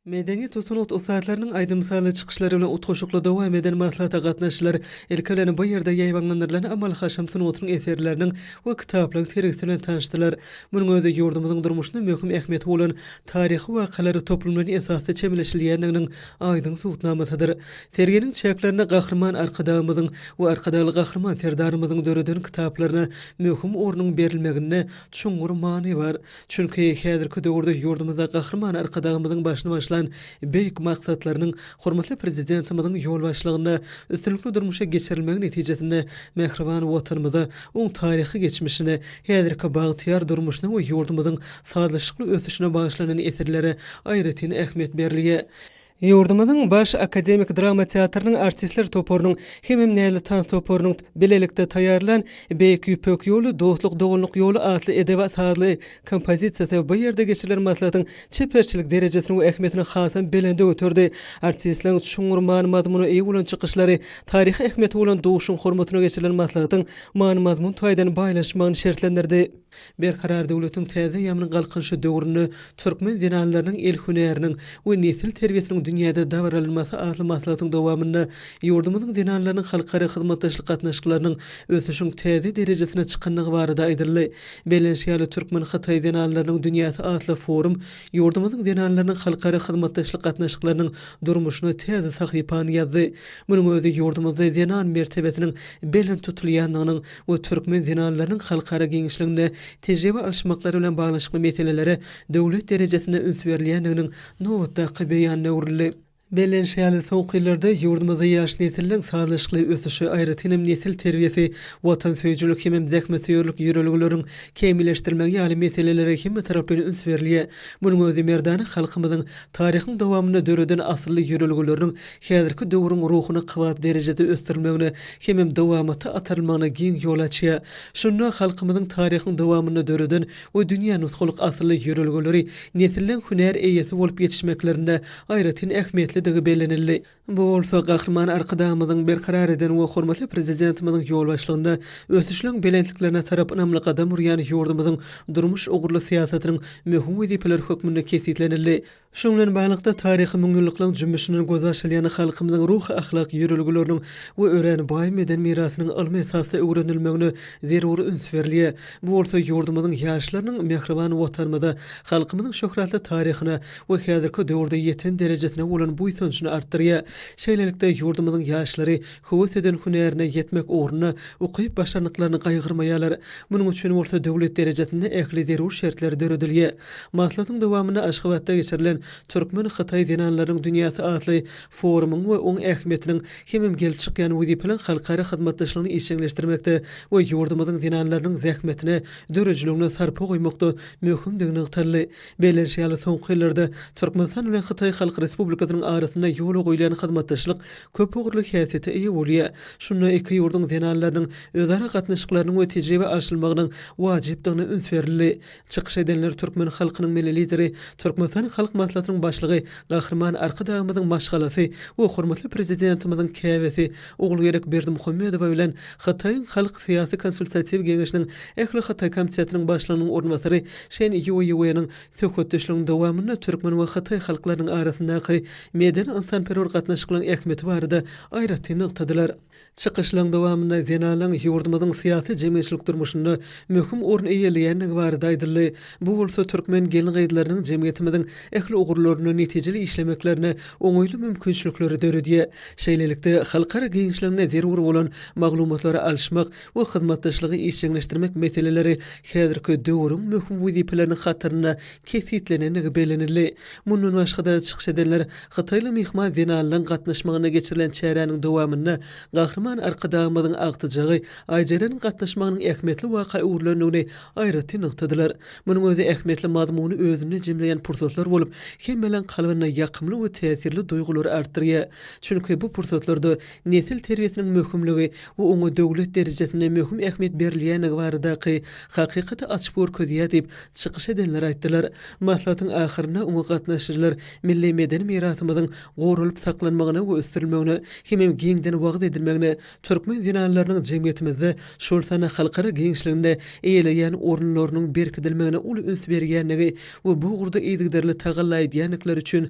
Medeniýet we sungat ussatlarynyň aýdym-sazly çykyşlary bilen utgaşykly dowam eden maslahata gatnaşyjylar, ilki bilen, bu ýerde ýaýbaňlandyrylan amaly-haşam sungatynyň eserleriniň we kitaplaryň sergisi bilen tanyşdylar. Munuň özi ýurdumyzyň durmuşynda möhüm ähmiýeti bolan taryhy wakalar toplumynyň esasda çemeleşilýändiginiň aýdyň subutnamasydyr. Serginiň çäklerinde Gahryman Arkadagymyzyň we Arkadagly Gahryman Serdarymyzyň döreden kitaplaryna möhüm ornuň berilmeginde çuňňur many bar. Çünki häzirki döwürde ýurdumyzda Gahryman Arkadagymyzyň başyny başlan beýik maksatlarynyň hormatly Prezidentimiziň ýolbaşçylygynda üstünlikli durmuşa geçirilmegi netijesinde mähriban Watanymyza, oň taryhy geçmişine, häzirki bagtyýar durmuşyna we ýurdumyzyň sazlaşykly ösüşine bagyşlanan eserlere aýratyn ähmiýet berilýär. Ýurdumyzyň Baş akademik drama teatrynyň artistler toparynyň hemem Näzli tans toparynyň bilelikde taýýarlan Beýik Ýüpek ýoly, dostluk, doganlyk ýoly atly edebi-sazly kompozisiýasy bu ýerde geçirilen maslahatyň çeperçilik derejesini we ähmiýetini hasam belende göterdi. Artistleriň çuňňur many-mazmuna eýe bolan çykyşlary, taryhy ähmiýeti bolan Duşuň hormatyna geçirilen maslahatyň many-mazmun taýdan baýlaşmagyny şertlendirdi. Berkarar döwletiň täze ýaman galkynyşy döwründe türkmen zenanlarynyň el hünäriniň we nesil terbiýesiniň dünýäde dabaralanmasy atly maslahatyň dowamynda ýurdumyzyň zenanlarynyň halkara hyzmatdaşlyk gatnaşyklarynyň ösüşiň täze derejesine çykandygy barada aýdyldy. Bellenişi ýaly, Türkmen-hytaý zenanlarynyň dünýäsi atly forum ýurdumyzyň zenanlarynyň halkara hyzmatdaşlyk gatnaşyklarynyň durmuşyna täze sahypany ýazdy. Munuň özi ýurdumyzda zenan mertebesiniň belent tutulýandygynyň we türkmen zenanlarynyň halkara giňişliginde tejribe alyşmaklary bilen baglanyşykly meselelere döwlet derejesinde üns berilýändiginiň nobatdaky beýanyna öwrüldi. Bellenişi ýaly, soňky ýyllarda ýurdumyzda ýaş nesilleriň sazlaşykly ösüşi, aýratyn hem nesil terbiýesi, watansöýüjilik hemem zähmetsöýerlik ýörelgeleriň kämilleşdirilmegi ýaly meselelere hemmetaraplaýyn üns berilýär. Munuň özi merdana halkymyzyň taryhyň dowamynda döreden asylly ýörelgeleriniň häzirki döwrüň ruhuny kybap derejede ösdürmegine hemem dowamata atarylmagyna giň ýol açýar. Şunda halkymyzyň taryhyň dowamynda döreden we dünýä nusgalyk asylly ýörelgeleri nesilleň hünär eýesi bolup ýetişmeklerinde aýratyn ähmiýetlidigi bellenildi. Bu bolsa Gahryman Arkadagymyzyň berkarar eden we hormatly Prezidentimiziň ýolbaşçylygynda ösüşleň belentliklerine tarap ynamly gadam urýan ýurdumyzyň durmuş ugurly syýasatynyň möhüm wezipeleri hökmünde kesgitlenildi. Şunuň bilen baglylykda, taryhy müňýyllyklaryň jümmüşinden göz açylýan halkymyzyň ruhy-ahlak ýörelgeleriniň we örän baý medeni mirasynyň ylmy esasda öwrenilmegine zerur üns berilýär. Bu bolsa ýurdumyzyň ýaşlarynyň mähriban Watanymyza, halkymyzyň şöhratly taryhyna we häzirki döwürde ýeten derejesine bolan buýsanjyny artdyrýar. Şeýlelikde, ýurdumyzyň ýaşlary höwes eden hünärine ýetmek ugrunda ukyp-başarnyklaryny gaýgyrmaýarlar. Munuň üçin bolsa döwlet derejesinde ähli zerur şertler döredilýär. Maslahatyň dowamynda Aşgabatda geçirilen Türkmen-hytaý zenanlarynyň dünýäsi atly forumyň we oň ähmiýetiniň hemem gelip çykýan wezipeliň halkara hyzmatdaşlygyny işjeňleşdirmekde we ýurdumyzyň zenanlarynyň zähmetine, döredijiligine sarpa goýmakda möhümdigi nygtaldy. Belleniş ýaly, soňky ýyllarda Türkmenistan bilen Hytaý Halk Respublikasynyň arasynda ýola goýlan hyzmatdaşlyk köp ugurly häsiýete eýe bolýar. Şunda iki ýurduň zenanlarynyň özara gatnaşyklarynyň we tejribe alşylmagynyň wajypdygyna üns berildi. Çykyş edenler türkmen halkynyň Milli Lideri, Türkmenistan Halk Maslahatynyň Başlygy Gahryman Arkadagymyzyň maşgalasy we hormatly Prezidentimiziň käbesi Ogulgerek Berdimuhamedowa bilen Hytaýyň Halk syýasy konsultatiw geňeşiniň Ähli Hytaý komitetiniň başlygynyň orunbasary Şen Ýuýueniň söhbetdeşligiň dowamynda türkmen we hytaý halklarynyň arasyndaky medeni-ynsanperwer gatnaşyklaryň ähmiýeti barada aýratyn nygtadylar. Çykyşlaryň dowamynda zenanyň ýurdumyzyň syýasy-jemgyýetçilik durmuşynda möhüm orun eýeleýändigi barada aýdyldy. Bu bolsa türkmen gelin-gyzlarynyň jemgyýetimiziň ähli ugurlarynda netijeli işlemeklerine oňaýly mümkinçilikleri döredýär. Şeýlelikde, halkara giňişliginde zerur bolan maglumatlary alyşmak we hyzmatdaşlygy işjeňleşdirmek meseleleri häzirki döwrüň möhüm wezipeleriniň hatarynda kesgitlenendigi bellenildi. Mundan başga-da, çykyş edenler hytaýly myhman zenanlaryň gatnaşmagynda geçirilen çäräniň dowamynda Gahryman Arkadagymyzyň agtyjagy Aýjeleniň gatnaşmagynyň ähmiýetli waka öwrülendigini aýratyn nygtadylar. Munuň özi ähmiýetli mazmuny özünde jemleýän pursatlar bolup, hemmeleriň kalbynda ýakymly we täsirli duýgulary artdyrýar. Çünki bu pursatlarda nesil terbiýesiniň möhümligi we oňa döwlet derejesinde möhüm ähmiýet berilýändigi baradaky hakykaty açyp görkezýär diýip, çykyş edenler aýtdylar. Maslahatyň ahyrynda oňa gatnaşyjylar milli medeni mirasymyzyň goralyp saklanmagyna we ösdürilmegine hemem giňden wagyz edilmegine, türkmen zenanlarynyň jemgyýetimizde, şol sanda halkara giňişliginde eýeleýän orunlarynyň berkidilmegine uly üns berýändigi we bu ugurda yzygiderli tagalla edýändikleri üçin